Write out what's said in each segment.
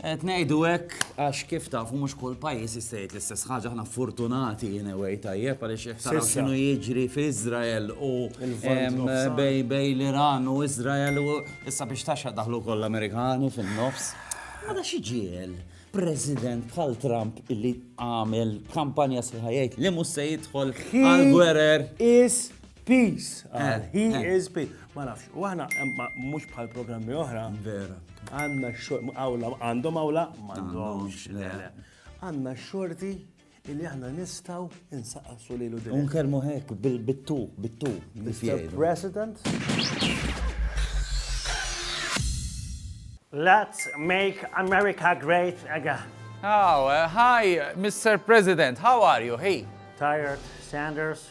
Qed ngħidu hekk għax kif tafu mhux kull pajjiż jista' jgħid l-istess ħaġa, aħna fortunati in a way tajjeb għaliex jekk taraw x'inhu jiġri f'Iżrael u bejn l-Iran u Iżrael u issa biex taxxa daħlu wkoll l-Amerikani fin-nofs. Mela xi ġiegħel President bħal Trump illi għamel kampanja sħiħa jgħid li mhux se jidħol għall-gwerer. Is Peace. Ah, he eh. is peace. Ma nafx, u aħna mhux bħal programmi oħra. Vera. Għandna xogħol, għawla, għandhom għawla, m'għandhomx. Għandna xorti illi aħna nistaw insaqsu li l-udin. Unkelmu hekk, bittu, bittu, Mr. President. Let's make America great again. Oh, uh, hi, Mr. President. How are you? Hey. Tired, Sanders.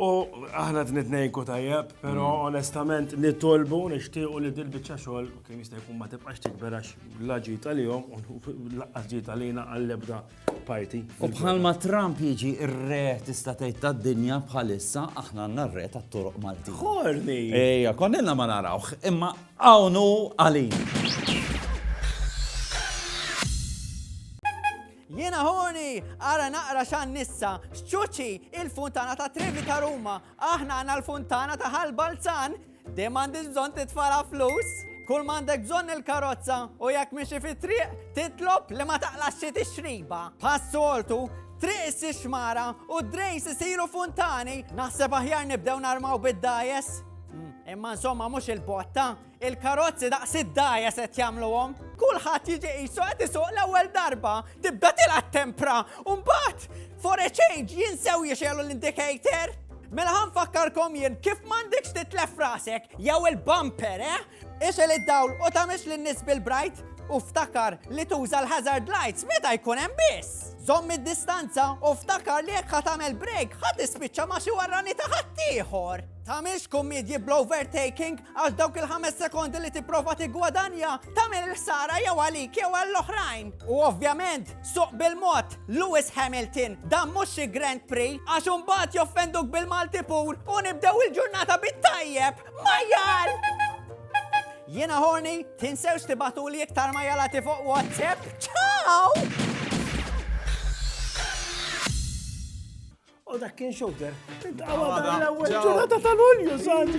U aħna t-nitnejku tajjeb, pero mm. onestament nitolbu nishtiqu li dil-bicċa xogħol kien jista' jkun ma tibqax tikber għax la ġita li jom u laqqas ġita li jina għall-ebda parti. U bħalma Trump jiġi r-re tista' tgħid tad-dinja bħalissa aħna għandna r-re tat-toroq Malti. Ħorni! Ejja, konnilna ma narawh, imma Hawn hu għalina. Jiena ħuni, ara naqra xan nissa, xċuċi il-funtana ta' Trevi ta' Ruma, aħna għana l-funtana ta' Ħal Balzan, di mandiġ bżon titfala flus, kull mandek bżon il-karozza u jekk miexi fi triq titlob li ma taqlax xi tixriba. Passoltu, triq issi xmara u d-drejs isiru funtani, naħseb aħjar nibdew narmaw bid-dajes. Hmm. Imma insomma mhux il-botta, il-karozzi daqs id-daja se jagħmluhom. Kulħadd jiġi qisu qed isuq l-ewwel darba, tibda tilgħat tempra, u mbagħad for a change jinsew jixelu l-indicator. Mela ħan fakkarkom jien kif m'għandekx titlef rasek jew il-bumper, eh? Ixel id-dawl u tamix lin-nies bil-bright u ftakar li tuża l-hazard lights meta jkun hemm biss. Żomm id-distanza u ftakar li jekk ħatamel break ħadd ispiċċa ma xi warrani ta' ħaddieħor. Tagħmilx kummedji bl-overtaking għax dawk il-ħames sekondi li tipprova tiggwadanja tagħmel il-ħsara jew għalik jew għall-oħrajn. U ovvjament, suq bil-mod, Lewis Hamilton, dan mhux xi Grand Prix għax imbagħad joffenduk bil-Malti pur u nibdew il-ġurnata bit-tajjeb. Majjal! Jiena ħorni, tinsewx tibatuli iktar ma jalati fuq WhatsApp. Ciao! U dak kien xogħol. Intqawa dan l-ewwel ġurnata tal-Ulju, santi